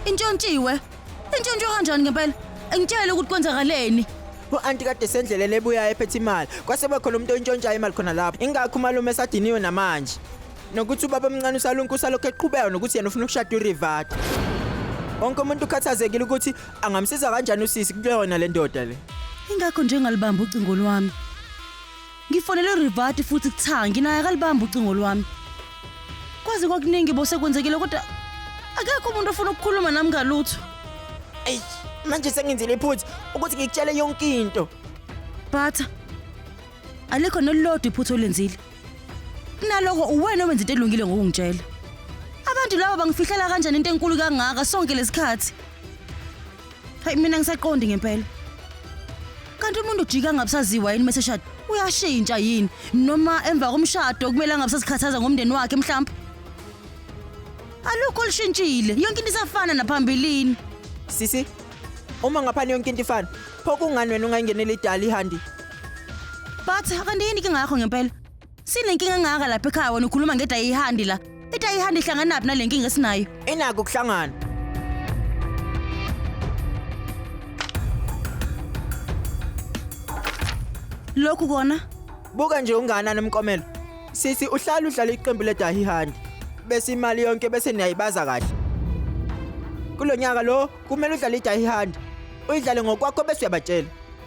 Intshontshiwe. Intshontshiwe kanjani ngempela? Ngitshele ukuthi kwenzakaleni. u-anti kade sendleleni ebuyayo ephethe imali kwase bekhona umuntu oyintshontshayo imali khona lapho ingakho umalume esadiniwe namanje nokuthi ubaba omncane usalunku usalokhu eqhubeka nokuthi yena ufuna ukushada urivata wonke umuntu ukhathazekile ukuthi angamsiza kanjani usisi kuyona le ndoda le Ingakho nje ngalibamba ucingo lwami. Ngifonele uRivati futhi kuthangi naye akalibamba ucingo lwami. Kwaze kwakuningi bo sekwenzekile kodwa akekho umuntu ofuna ukukhuluma nami ngalutho. Eyi, manje sengenzile iphutha ukuthi ngikutshele yonke into. Phatha. Alikho nelilodwa iphutha olenzile. Kunaloko uwena owenza into elungile ngokungitshela. Abantu laba bangifihlela kanjani into enkulu kangaka sonke lesikhathi? Hayi mina ngisaqondi ngempela. Kanti umuntu ujika ngabusaziwa yini meseshada? Uyashintsha yini? Noma emva komshado kumele angabusazikhathaza ngomndeni wakhe mhlawumbe? Alukho lishintshile. Yonke into isafana naphambilini. Sisi, uma ngaphani yonke into ifana, pho kungani wena ungayingeneli idala ihandi? But kanti yini ke ngakho ngempela? Sinenkinga engaka lapha ekhaya wena ukhuluma ngedayihandi la. Idayihandi ihlanganaphi nale nkinga esinayo? Inako ukuhlangana. Lokhu kona Buka nje ungana nomkomelo. Sisi uhlala udlala iqembu ledayihandi. Bese imali yonke bese niyayibaza kahle. Kulonyaka lo kumele udlale idayihandi. Uyidlale ngokwakho bese uyabatshela.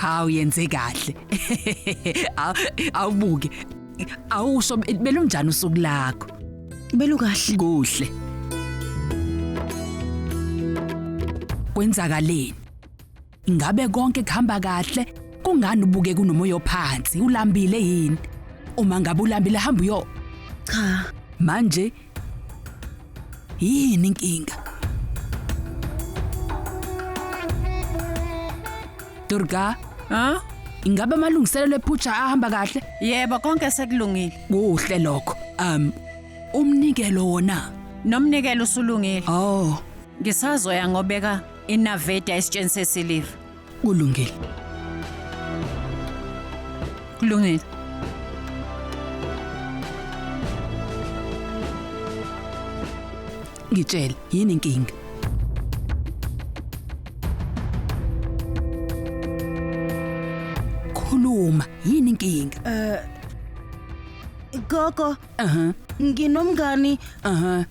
Cha uyenze kahle. Aw- Awubuke. Awusho belunjani usuku lakho? Belukahle. Kuhle. Kwenzakaleni? Ingabe konke kuhamba kahle? Kungani ubuke kunomoya ophansi? Ulambile yini? Uma ngabe ulambile hamba uyo Cha, manje Yini inkinga? Durga, Ha? ingabe amalungiselelo ephutha ahamba kahle? Yebo konke sekulungile. Kuhle lokho. Um umnikelo wona. Nomnikelo usulungile. Oh, Ngisazoya ngobeka inaveda esitsheni sesiliva. kulungile kulungile ngitshele yini inkinga khuluma yini inkinga Eh Gogo, aha nginomngani aha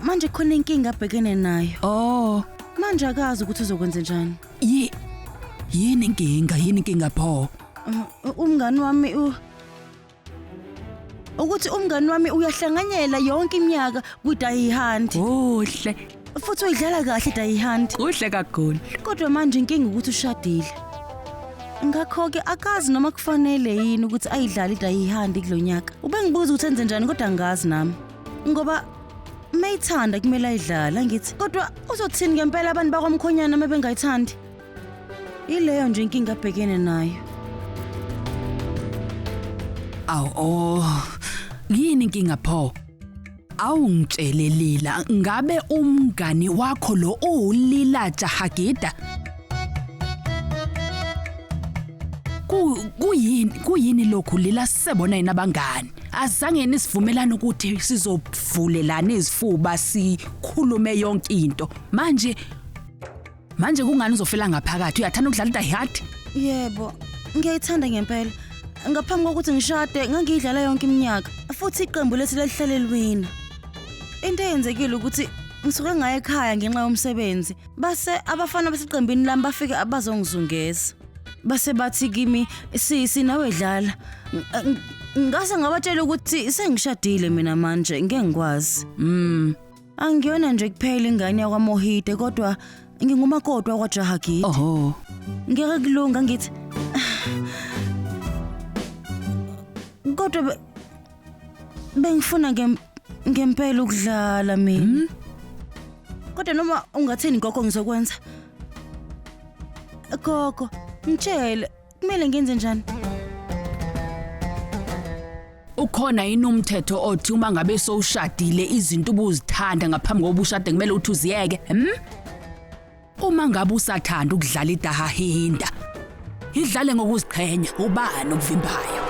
manje khona inkinga abhekene nayo Oh, manje akazi ukuthi uzokwenza njani yi yini inkinga? Yini inkinga pho? Uh, umngani wami u ukuthi umngani wami uyahlanganyela yonke iminyaka kwi-die hunt Kuhle, futhi uyidlala kahle i-die hunt kuhle kakhulu. kodwa manje inkinga ukuthi ushadile ngakho-ke akazi noma kufanele yini ukuthi ayidlale i-die hunt kulo nyaka ubengibuza ukuthi enze njani kodwa angazi nami ngoba mayithanda kumele ayidlala ngithi kodwa uzothini ngempela abantu bakwamkhonyana uma bengayithandi ileyo nje inkinga abhekene nayo Aw oh. Yini inkinga pho? Awu ngitshele Lila, ngabe umngani wakho lo uwulila Jahagida? Ku kuyini kuyini lokhu Lila sisebona yini abangani? Azange nisivumelana ukuthi sizovulelana izifuba sikhulume yonke into. Manje manje kungani uzofela ngaphakathi? Uyathanda ukudlala iDie Hard? Yebo, ngiyayithanda ngempela. Ngaphambi kokuthi ngishade ngangiyidlala yonke iminyaka futhi iqembu lethu lalihlale liwina. Into eyenzekile ukuthi ngisuke ngaye ekhaya ngenxa yomsebenzi. Base abafana baseqembini lami bafike abazongizungeza. base bathi kimi sisi nawe dlala ngase ngabatshela ukuthi sengishadile mina manje ngeke ngikwazi mm angiyona nje kuphela ingane yakwaMohide kodwa ngingumakoti wakwaJahagidi oho ngeke kulunga ngithi kodwa Bengifuna ngem- ngempela ukudlala mina. Kodwa noma ungathini gogo ngizokwenza. Gogo, ngitshele kumele ngenze njani? Ukhona yini umthetho othi uma ngabe sowushadile izinto ubuzithanda ngaphambi kokuba ushade kumele uthi uziyeke? Hmm? Uma ngabe usathanda ukudlala idahahinda, idlale ngokuziqhenya ubani okuvimbayo.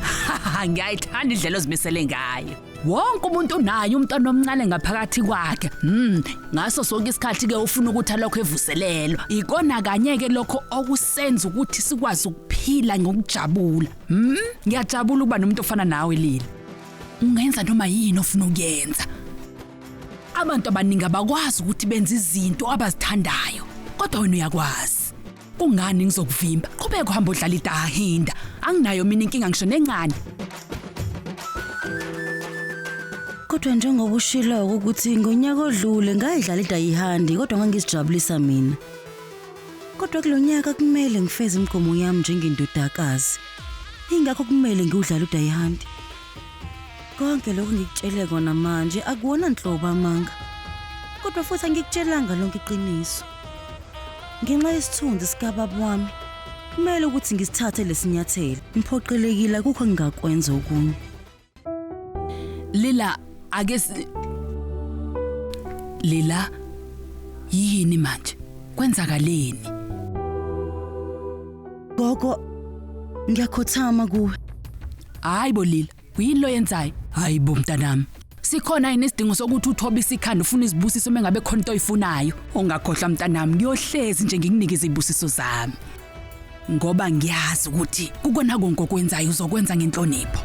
Haha, ngiyayithanda indlela ozimisele ngayo. Wonke umuntu unaye umntwana omncane ngaphakathi kwakhe. Mm, ngaso sonke isikhathi ke ufuna ukuthi alokho evuselelwa. Ikona kanye ke lokho okusenza ukuthi sikwazi ukuphila ngokujabula. Mm, ngiyajabula ukuba nomuntu ofana nawe Lila. Ungenza noma yini ofuna ukuyenza. Abantu abaningi abakwazi ukuthi benze izinto abazithandayo, kodwa wena uyakwazi. Kungani ngizokuvimba? Qhubeka uhamba udlala idahinda. Anginayo mina inkinga ngisho nencane. Kodwa njengoba ushilo ukuthi ngonyaka odlule ngayidlala idayihandi kodwa ngangizijabulisa mina. Kodwa kulonyaka kumele ngifeze imigomo yami njengendodakazi. Ingakho kumele ngiwudlale udayihandi. konke lokhu ngikutshele kona manje akuwona nhlobo amanga kodwa futhi angikutshelanga lonke iqiniso ngenxa yesithunzi sikababa wami kumele ukuthi ngisithathe lesinyathelo ngiphoqelekile akukho ngingakwenza okunye Lila ake Lila yini manje kwenzakaleni Gogo ngiyakhothama kuwe Hayi bo Lila, uyini lo yenzayo? Hayi bo mntanami. Sikhona yini isidingo sokuthi uthobe isikhanda ufuna izibusiso mengabe khona into oyifunayo? Ungakhohlwa mntanami, ngiyohlezi nje ngikunike izibusiso zami. Ngoba ngiyazi ukuthi kukona konke okwenzayo uzokwenza ngenhlonipho.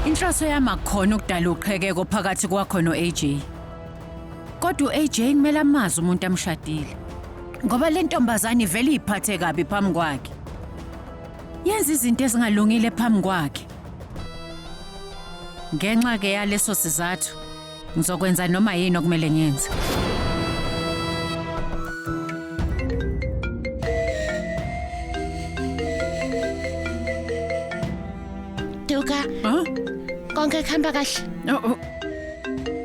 Inhloso yami akukhona ukudala uqhekeko phakathi kwakho no-AJ. Kodwa u-AJ kumele amazi umuntu amshadile. Ngoba le ntombazane ivele iyiphathe kabi phambi kwakhe. Yenza izinto ezingalungile phambi kwakhe. Ngenxa ke yaleso sizathu ngizokwenza noma yini okumele ngiyenze. Duka, Huh? konke kuhamba kahle. Oh, oh.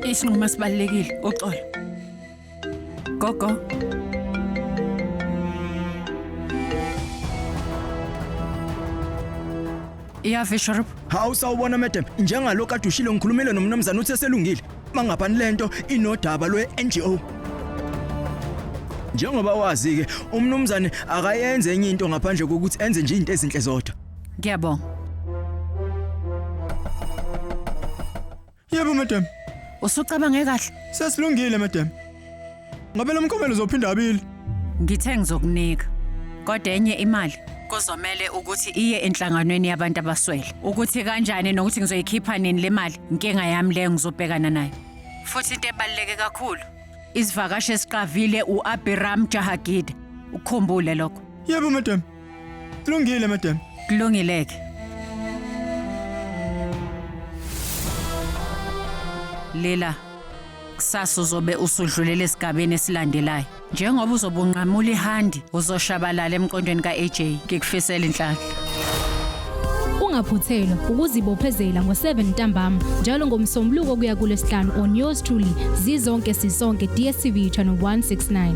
Isinqumo esibalekile uxolo. Gogo. Ya Fisherup. Hawu sawubona madam, njengalokho kade ushilo ngikhulumile nomnumzane uthi eselungile. Mangapani lento inodaba lwe NGO. Njengoba wazi ke umnumzane akayenze enye into ngaphandle kokuthi enze nje izinto ezinhle zodwa. Ngiyabonga. Yebo madam. Usucabange kahle? Sesilungile madam. Ngabe lo mkhomelo uzophinda abili. Ngithe ngizokunika kodwa enye imali kuzomele ukuthi iye enhlanganweni yabantu abaswele. Ukuthi kanjani nokuthi ngizoyikhipha nini le mali, inkinga yami leyo ngizobhekana nayo. Futhi into ebaluleke kakhulu, isivakashi esiqavile u-Abiram Jahagida. Ukukhumbule lokho. Yebo madam. Kulungile madam. Kulungileke. Lela kusasa uzobe usudlulela esigabeni esilandelayo. Njengoba uzobe unqamula ihandi, uzoshabalala emqondweni ka-AJ. Ngikufisela inhlanhla. Ungaphuthelwa ukuzibophezela ngo-7 ntambama njalo ngomsombuluko kuya kulesihlanu on yours truly zizonke sisonke DSTV channel 169.